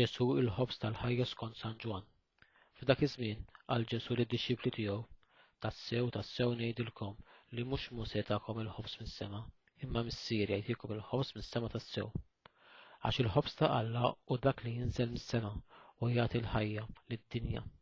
Ġesù il-ħobż tal-ħajja skont San Ġwann. F'dak iż-żmien qal Ġesù lid-dixxipli tiegħu, Tassew, tassew ngħidilkom li mhux Mosè takom il-ħobż mis-sema, imma Missieri jagħtikom il-ħobż mis-sema tassew. Għax il-ħobż ta' Alla hu dak li jinżel mis-sema u jagħti l-ħajja lid-dinja.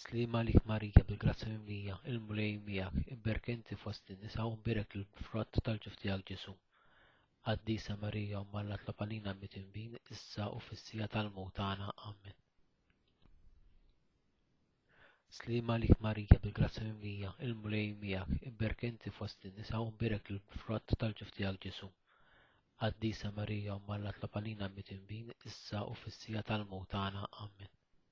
Sliem għalik Marija bil-grazzja mimlija, il-Mulej miegħek, imberk inti fost in-nisa u mbierek il-frott tal-ġuf tiegħek Ġesu'. Qaddisa Marija Omm Alla tlob għalina midinbin issa u fis-siegħa tal-mewt tagħna. Amen. Sliem għalik Marija bil-grazzja mimlija, il-Mulej miegħek, imberk inti fost in-nisa u mbierek il-frott tal-ġuf tiegħek Ġesu'. Qaddisa Marija Omm Alla tlob għalina midinbin issa u fis-siegħa tal-mewt tagħna. Amen.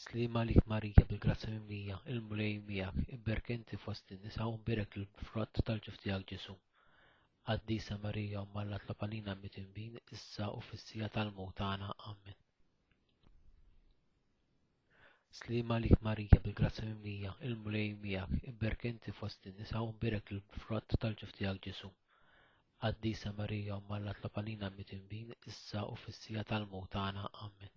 Sliema għalik Marija bil-grazzja mimlija, il-Mulej miegħek, imberk inti fost in-nisa u mbierek l-frott tal-ġuf tiegħek Ġesu. Qaddisa Marija Omm Alla tlob għalina midinbin issa u fis-sija tal-mewt tagħna. Amen. Sliema għalik Marija bil-grazzja mimlija, il-Mulej miegħek, imberk inti fost in-nisa u mbierek l-frott tal-ġuf tiegħek Ġesu. Qaddisa Marija Omm Alla tlob għalina midinbin issa u fis-sija tal-mewt tagħna. Amen.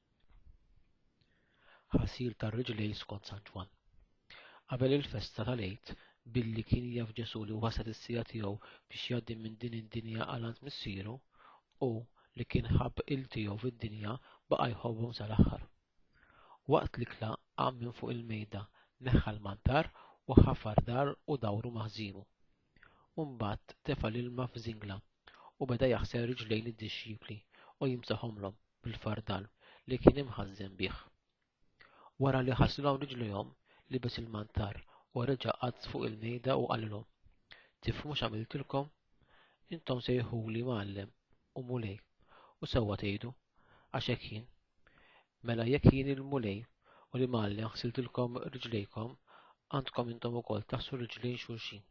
Ħasil tar-riġlejn skont San Ġwann. Qabel il-festa tal-Għid, billi kien jaf Ġesù li waslet is-siegħa tiegħu biex jgħaddi minn din id-dinja għal għand Missieru, hu li kien ħabb il tiegħu fid-dinja baqa' jħobbhom sal-aħħar. Waqt l-ikla qam minn fuq il-mejda, neħħa l-mantar u ħafar dar u dawru ma' ħżiemu. u mbagħad tefa' l-ilma f'żingla u beda jaħsel riġlejn id-dixxipli u jimsahomlhom bil-fardal li kien imħażżen bih. Wara li ħaslhom riġlejhom, libes il-mantar u reġa' qagħad fuq il-mejda u qalilhom, Tifhmu x'għamiltilkom? Intom sejħuli Mgħallem u Mulej, u sewwa tgħidu, għax hekk jien. Mela jekk jien il-Mulej u li m'Alla ħsiltilkom riġlejkom, għandkom intom ukoll taħsu riġlejn xulxin.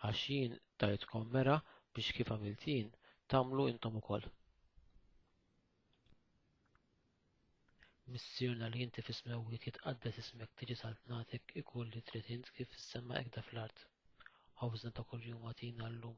Għax jien tajtkom mera biex kif għamilt jien tagħmlu intom ukoll. Missirna li inti fis-smewwiet jitqaddes ismek tiġi saltnatek ikun li trid int kif fis-sema ekda fl-art. Ħawżna ta' kuljum għatina llum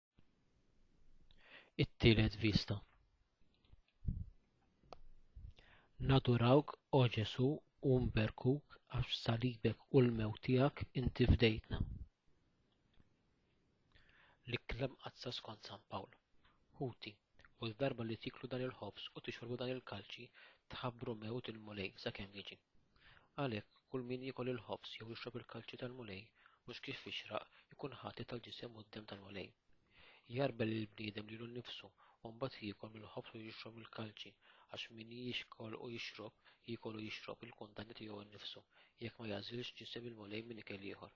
It-tielet vista. Nadurawk, o Ġesu, u nberkuk għax salibek u l-mew tiegħek inti fdejtna. L-ikklem qazza skont San Pawl. Ħuti, u l-darba li tiklu dan il-ħobż u tixorbu dan il-kalċi, tħabbru mewt il-Mulej sakemm jiġi. Għalhekk, Kull min jiekol il-ħobż jew jixrob il-kalċi tal-Mulej mhux kif jixraq ikun ħati tal-ġisem u d-demm tal-Mulej. Jgħarbel lill-bniedem lilu nnifsu u mbagħad jiekol mill-ħobż u jixrob mill-kalċi, għax min jiekol u jixrob, jiekol u jixrob il-kundanna tiegħu nnifsu, jekk ma jagħżilx ġisem il-Mulej minn ikel ieħor.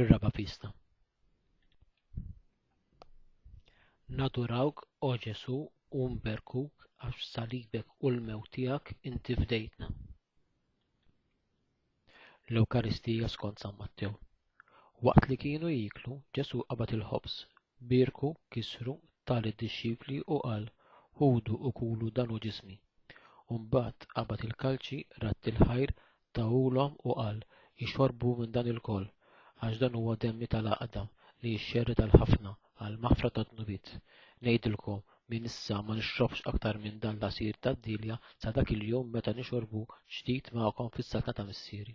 Ir-raba' pista. Nadurawk, O Ġesu, u nberkuk għax salibek u l-mew tiegħek inti fdejtna. L-Ewkaristija skont San Mattew. Waqt li kienu jiklu, Ġesu qabad il-ħobż, birku, kisru, tal id-dixxipli u qal, Ħudu u kulu dan hu ġismi. Umbagħad qabad il-kalċi, radd il-ħajr, Tahulhom u qal, Ixorbu minn dan ilkoll, għax dan huwa demmi tal-għaqda li jixxerred għal ħafna għall-maħfra tad-dnubiet. Ngħidilkom, minn issa ma nixrobx aktar minn dan l-għasir tad-dielja sa dak il-jum meta nixorbu ġdid magħkom fis-saltna ta' Missieri.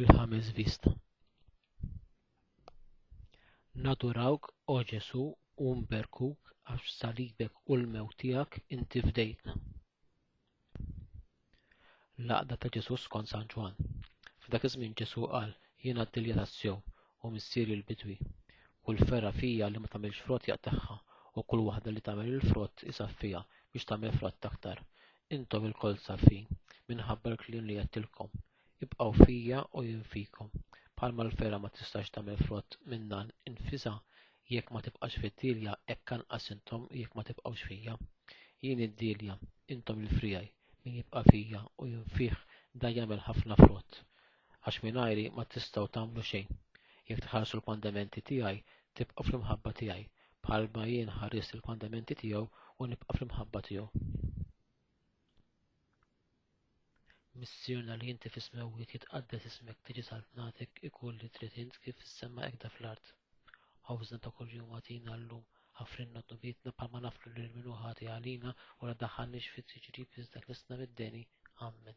Il-ħames vista. Nadurawk, o Ġesu, u nberkuk għax salibek u l-mew tiegħek inti fdejtna. Laqda ta' Ġesu skont San Ġwan. F'dak iż-żmien Ġesu qal, jiena d-dilja tas-sew u missieri l-bidwi. Kull ferra fija li ma tagħmilx frott jaqtagħha u kull waħda li tagħmel il-frott isaffiha biex tagħmel frott aktar. Intom ilkoll safin, minħabba l-kliem li għedtilkom, Ibqgħu fija u jien fikom. Bħalma l-fergħa ma tistax tagħmel frott minnha nfisha jekk ma tibqax fid-dielja, hekk anqas intom jekk ma tibqgħux fija. Jien id-dielja, intom il-friegħi, min jibqa' fija u jien fih dan jagħmel ħafna frott, għax mingħajri ma tistgħu tagħmlu xejn. Jekk tħarsu l-kmandamenti tiegħi, tibqgħu fl-imħabba tiegħi, bħalma jien ħarist il-kmandamenti tiegħu u nibqa' fl-imħabba tiegħu. Missierna li inti fis-smewwiet jitqaddes ismek tiġi saltnatek ikun li trid int kif fis-sema ekda fl-art. Ħawżna ta' kuljum għatina llum ħafrinna dubitna bħalma naflu lil min ħati għalina u la daħħalniex fit-tiġrib iżda tlissna mid-deni. Amen.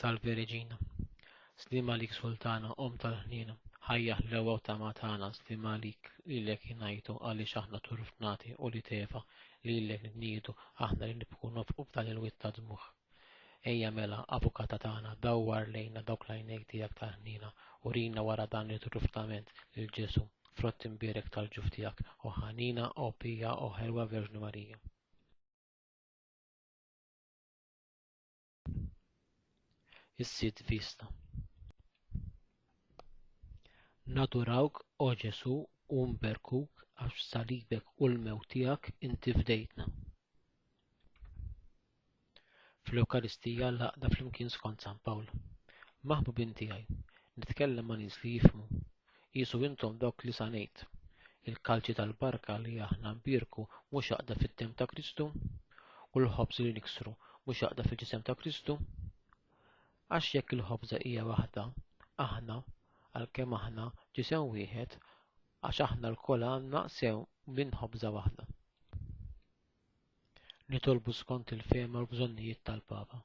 Salve Regina. Slim għalik Sultana, Om tal-ħniena. Ħajja ħlewa u tama tagħna, slim għalik lilek jingħajtu għaliex aħna turfnati u li tefa lilek nidniedu aħna li nibku nofqu f'dan il-witt ta' dmuħ. Ejja mela, avukata tagħna, dawwar lejna dawk lajnejk tiegħek ta' ħnina u rina wara dan li truftament lil Ġesu, frott imbierek tal-ġuf tiegħek, o ħanina, o pija, o ħelwa Verġni Marija. is-sit Vista. Nadurawk, O Ġesu, u nberkuk għax b'salibek u l-mewt tiegħek inti fdejtna. Fl-Ewkaristija l-għaqda flimkien skont San Pawl. Maħbubin tiegħi, nitkellem ma' nies li jifhmu, Qisu intom dawk li sa ngħid, Il-kalċi tal-barka li aħna nbierku mhux għaqda fid-demm ta' Kristu, u l-ħobż li niksru mhux għaqda fil-ġisem ta' Kristu. Għax jekk il-ħobża hija waħda, aħna, għalkemm aħna ġisem wieħed, għax aħna lkoll għandna sew minn ħobża waħda. Nitolbu skont il-fehma u l-bżonnijiet tal-Papa.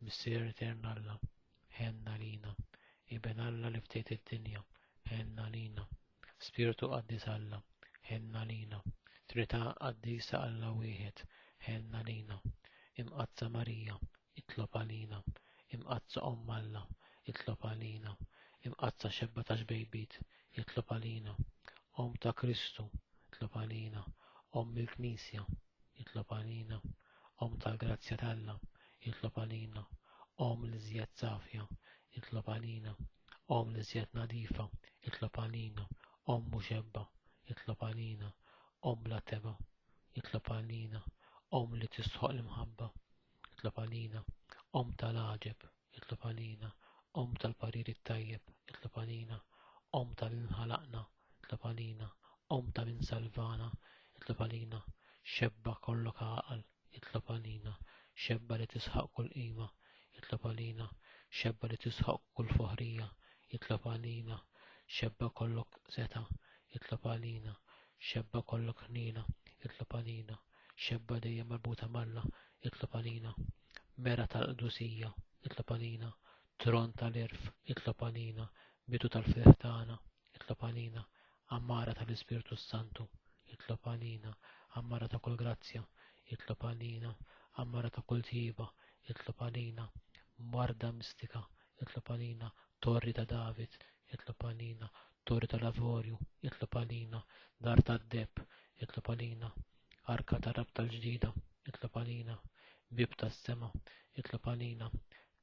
Missier etern Alla, ħenna lina, Iben Alla li ftit id-dinja, ħenna lina, Spirtu qaddis Alla, ħenna lina, Trita qaddisa Alla wieħed, ħenna lina, Imqazza Marija, itlob għalina, Imqazza Om Alla, itlob għalina, Imqazza xebba ta' xbejbit, itlob għalina, Om ta' Kristu, itlob għalina, Om il-Knisja, itlob għalina, Omm tal-grazzja t'Alla, itlob għalina. Omm l-iżjed safja, itlob għalina. Omm l-iżjed nadifa, itlob għalina. Omm muxebba, itlob għalina. Omm bla tebgħa, itlob għalina. Omm li tistħoqq l-imħabba, itlob għalina. Omm tal-għaġeb, Itlob għalina, Omm tal-parir it-tajjeb, itlob għalina, Omm ta' min ħalaqna, itlob għalina, Omm ta' min salvana, itlob għalina, Xebba kollok għaqal, itlob għalina, Xebba li tisħaq kull qima, itlob għalina, Xebba li tisħaq kull foħrija, itlob għalina, Xebba kollok seta, itlob għalina, Xebba kollok ħniena, itlob għalina, xebba dejjem marbuta malla, itlob għalina, mera tal-qdusija, itlob għalina, tron tal-irf, itlob għalina, bidu tal-ferħ tagħna, itlob għalina, ammara tal-Ispirtu Santu, itlob għalina, ammara ta' kull grazzja, itlob għalina, ammara ta' kull tjieba, itlob għalina, marda mistika, jitlob għalina torri ta' David, jitlob għalina torri tal-avorju, jitlob għalina dar tad-deb, jitlob għalina arka ta' rabta l-ġdida, jitlob għalina bib tas-sema, jitlob għalina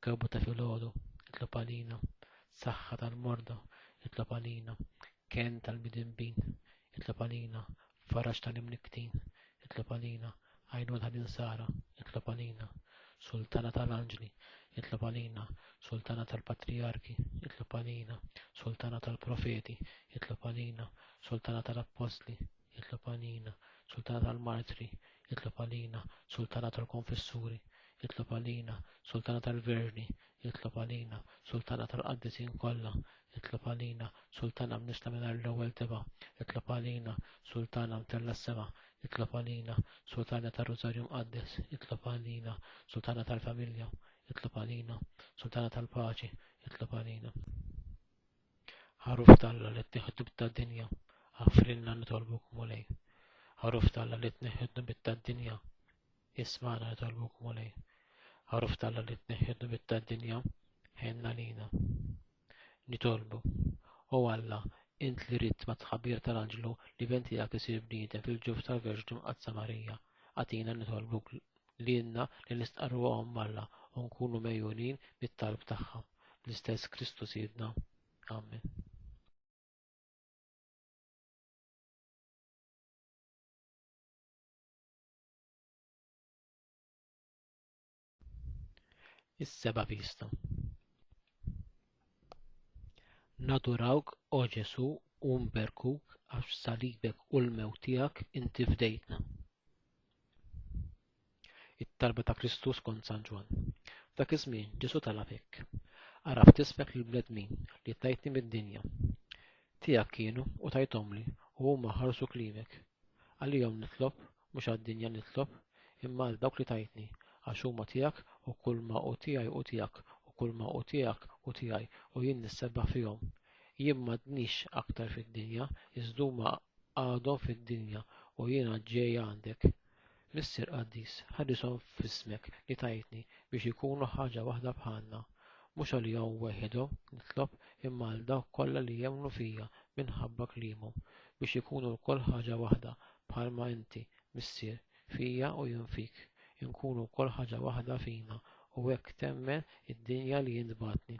kewbu ta' filgħodu, jitlob għalina saħħa tal-morda, jitlob għalina ken tal-midinbin, jitlob għalina Faraġ tal-imniktin, itlob għalina, għajnuna tal-insara, itlob għalina, Sultana tal-anġli, itlob għalina, Sultana tal-patrijarki, itlob għalina, Sultana tal-profeti, itlob għalina, Sultana tal-appostli, itlob għalina, Sultana tal-martri, itlob għalina, Sultana tal-konfessuri, itlob għalina, Sultana tal-verni, itlob għalina, Sultana tal-qaddisin kollha, Itlob għalina, Sultana mnista mingħajr l-ewwel teba. Itlob għalina, Sultana mtella s-sema. Itlob għalina, Sultana ta' Rosario Mqaddes. Itlob għalina, Sultana tal-familja. Itlob għalina, Sultana tal-paċi. Itlob għalina. Ħaruf talla li t-tiħdu bit-tad-dinja. Għafrinna nitolbu kumulej. Ħaruf talla li t-neħdu bit-tad-dinja. Ismana jitolbu kumulej. Għaruf talla li t-neħjedu bitta d-dinja, ħenna lina. Nitolbu. O Alla, int li ritt ma tħabir tal-anġlu li venti għak isir bniedem fil-ġuf tal-Verġnu Mqadsa Marija. Għatina nitolbu l-inna li nistqarru għom Alla u nkunu mejunin mit-talb tagħha. L-istess Kristu sidna. Amen. is-seba' pista. Nadurawk, O Ġesu, u nberkuk għax b'salibek u l-mewt tiegħek inti fdejtna. It-talba ta' Kristus kont San Ġwan. Dak iż-żmien Ġesu talab hekk. Araf tisfek lil bledmin li tajtni mid-dinja. Tiegħek kienu u tajtomli u huma ħarsu klimek Għalihom nitlob, mhux għad-dinja nitlob, imma għal dawk li tajtni, għax huma tiegħek u kulma hu tiegħi hu tiegħek u kulma hu tiegħek hu tiegħi u jien nissebbaħ fihom. Jien m'għadnix aktar fid-dinja, iżdhuma għadhom fid-dinja u jiena ġej għandek. Missier qaddis, ħarishom f'ismek li tajtni biex ikunu ħaġa waħda bħalna. Mhux għalihom weħidhom nitlob imma għal dawk kollha li jemmnu fija minħabba kliemhom, biex ikunu lkoll ħaġa waħda bħalma inti, Missier, fija u jien fik, inkunu lkoll ħaġa waħda fina u hekk temmen id-dinja li int bagħtni.